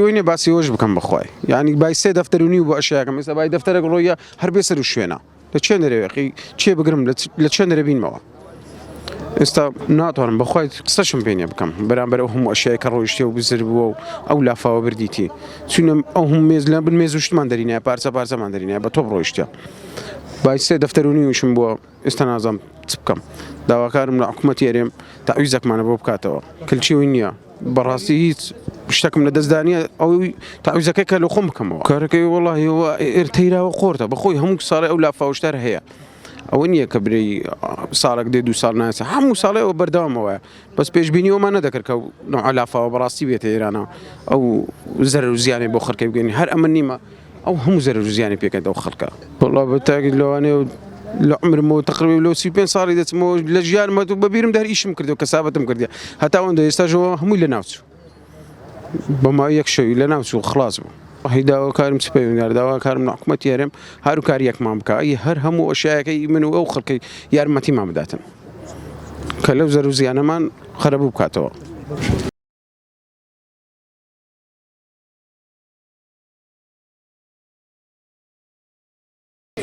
وی نیە باسی ئەوەش بکەم بەخوای یانی بای سێ دەفتەر و نیو بۆ ئەشیاکەم ئێستا بای دەفتەرێک ڕۆیە هەر بێ سەر و شوێنە لە چێ نەرێقی چێ بگرم لە چێ نەرەبینمەوە ئێستا ناتوانم بەخوای قسەشم پێ نیە بکەم بەرامبەر ئەو هەموو ئەشیای کە ڕۆیشتێ و بزر بووە و ئەو لافاوە بردیتی چونم ئەو هەم مێز لە بن مێزوشتمان دەرینە پارچە پارچەمان دەرینە بە تۆپ ڕۆیشتە بای سێ دەفتەر و نیوشم بووە ئێستا نازانم چ بکەم داواکارم لە حکومەتی هەرێم تەعویزەکمانە بۆ بکاتەوە کلچی وی نییە بەڕاستی هیچ شتەکم لە دەستدانە ئەو تاویزەکە کە لە خۆم بکەمەوە کارەکەی وڵیەوە ئێرتەیراوە قۆرتە بەخۆی هەموو ساڵی ئەو لافاوشتار هەیە ئەوە نییە کە برێ ساڵک دێ دو ساڵ ناسە هەموو ساڵەوە بەردەوامەوە بەس پێشببینیەوەمان نەدەکرد کە نوعلافاوە بەڕاستی بێتە ئێرانە ئەو زەر و زیانێ بۆ خەکەی بگەین هەر ئەمە نیمە ئەو هەموو زەرەر و زیانی پێکەنت ئەو خەڵکە. وەڵا بە تاکید لەوانەیە و لە عومرمەوە تەقریبەن لۆ سی و پێنج ساڵی دەچمەوە لە ژیانمە و بە بیرمدا هەر ئیشم کردووە کەسابەتم کردیە هەتا ئەوەندە ئێستاشەوە هەمووی لە ناوچوو بە ماوەی یەک شەوی لە ناوچوو خلاص بوو. ئەهی داواکارم چ پەیوەندیدار داواکارم لە حکومەتی هەرێم هاروکارییەکمان بکا ی هەر هەموو ئەشیایەکەی من و ئەو خەڵکەی یارمەتیمان بداتن کە لەو زەرەر و زیانەمان قەرەبوو بکاتەوە.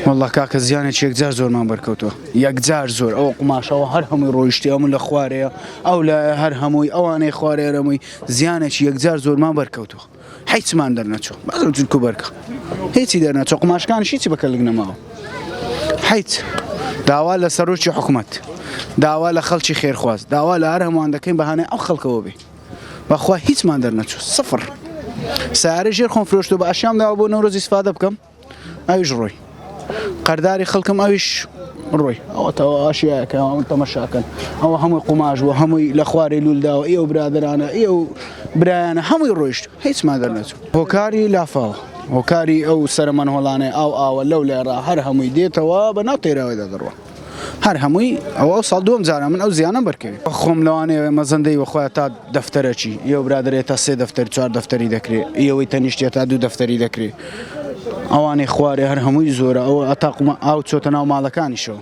واللە کاکە زیانێکی یەکجار زۆرمان بەرکەوتووە یەکجار زۆر ئەو قوماشەوە هەر هەمووی ڕۆیشتی هەموو لە خوارەیە ئەو لە هەر هەمووی ئەوانەی خوارێرەمووی زیانێکی یەکجار زۆرمان بەرکەوتووە حیچمان دەرنەچوو بەزم جلکو بەرکە هیچی دەرنەچۆ قوماشکان شیچی بەکەلک نەماوە حیچ داوا لە سەرۆکی حکوومەت داوا لە خەڵکی خێرخواز داوا لە هەر هەمووان دەکەین بەهانە ئەو خەڵکەوە بێ بەخوا هیچمان دەرنەچوو سفر سارە ژێر خۆم فرۆشتو بە ئەشیان داوە بۆ نەورۆزی سفادە بکەم ئەویش ڕۆی قەرداری خەڵکم ئەویش ڕۆی ئەوەتەوە ئاشیەکەوان تەمەشاکەن ئەوە هەمووی قوماش بوو هەمووی لە خوارێ لولداوە ئێوە برادرانە ئێ و برایانە هەمووی ڕۆیشت هیچمان دەرنەچوو هۆکاری لافاوە هۆکاری ئەو سەرمەنهۆڵانەی ئاو ئاوە لەو لێڕا هەر هەمووی دێتەوە بە ناو تێراوەدا دەڕوە هەر هەمووی ئەوە ساڵ دووەم جارە من ئەو زیانەم بەرکەوی خۆم لەوانەیە مەزەندەی وەخۆە تا دەفتەرەکی یە برادێت تا سێ دەفتەر چوار دەفتەری دەکرێ ئەوەی تەنیشتە تا دوو دەفتەری دەکرێ ئەوانەی خوارێ هەر هەمووی زۆرە ئەوە ئەتاقمە ئاو چۆتە ناو ماڵەکانیشەوە